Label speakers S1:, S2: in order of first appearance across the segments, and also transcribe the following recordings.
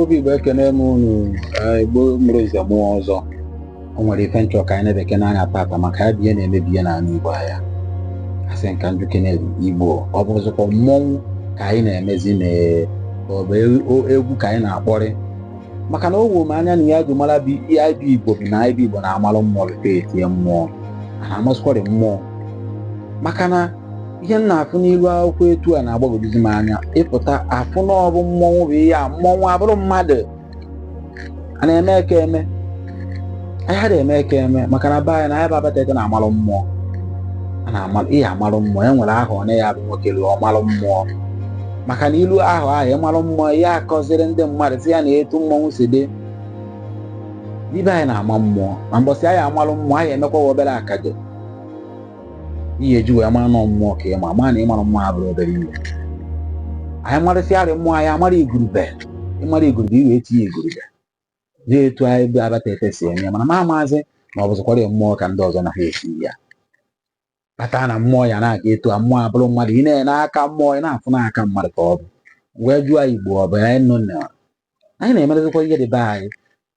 S1: obi igbo ekene m unu eh, igbo mụrụ nze mụọ ọzọ o nwere ife m chọ ka anyị nebekene anya tata maka ya bụ ihe na-emebi ihe n'ala igbo anyị asị m ka m jụkene igbo ọ bụrụzikwa mmọnwụ ka anyị na-emezi na ka ọ bụ e- o- egwu ka anyị na-akpọrị maka na o wuo m anya na ihe eji mara bụ ihe anyị bụ igbo bụ na anyị bụ igbo na-amalụ mmụọ before etie mmụọ a na-amasịkwarị mmụọ maka na ihe m na-afụ n'ilu akwụkwọ etu a na-agbagwojuzi m anya ịpụta afụ na ọ bụ mmọnwụ bụ ihe a mmọnwụ abụrụ mmadụ a na-eme eke eme anyị ha na-eme eke eme maka na be anyị na anyị bụ abatete na-amalụ mmụọ a na-amalụ ihe amalụ mmụọ e nwere ahọ onye bụ nwoke luo ọ malụ mmụọ maka na i luo ahọ ahụ ị malụ mmụọ ya akụziri ndị mmadụ sị ya ne etu mmọnwụ si dị be anyị na-ama mmụọ ma mbọsị anyị amalụ mmụọ anyị emekwa obere akaje ihe eji wee mara na mmụọ ka ịma ma na ịmara mmụọ abụrọ obere ihe anyị marịsịarị mmụọ anyị amara igurube ị mara igurube i wee tie igurube jee etu anyị bụ abatete si eme ya mana ma amaazị na ọ bụzịkwara ya mmụọ ka ndị ọzọ na ha esi ya kpata na mmụọ ya na-aga etu a mmụọ abụrụ mmadụ ị na-ene aka mmụọ ị na-afụ n'aka mmadụ ka ọ bụ wee jụọ igbo ọ bụ anyị nọ na anyị na-emerezikwa ihe dị be anyị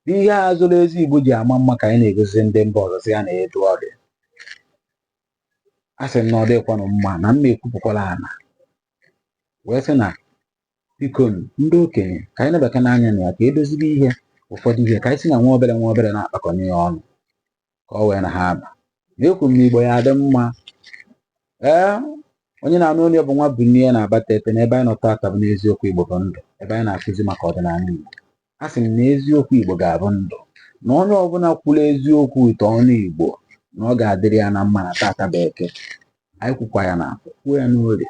S1: bụ ihe a zuru ezu Igbo ji ama mma ka anyị na-egosi ndị mba ọzọ sị ya ne etu ọ dị a sị m na ọ dịkwanụ mma na mma ekwupụkwala ana wee sị na biko nụ, ndị okenye ka anyị nebakene anya na ya ka e dozibe ihe ụfọdụ ihe ka anyị si na nwa obere nwa obere na-akpakọnye ya ọnụ ka o wee na ha aba ekwu m na igbo ya adị mma ee onye na-anụ onu ya bụ nwabunie na abatete na ebe anyị nọ tata bụ n'eziokwu igbo bụ ndụ ebe anyị na-akụzi maka ọdịnala igbo a sị m na eziokwu igbo ga-abụ ndụ na onye ọbụla kwuru eziokwu ite ọnụ igbo na ọ ga-adịrị ya na mma na tata bụ eke anyị kwukwa ya n'eke kwuo ya n'orie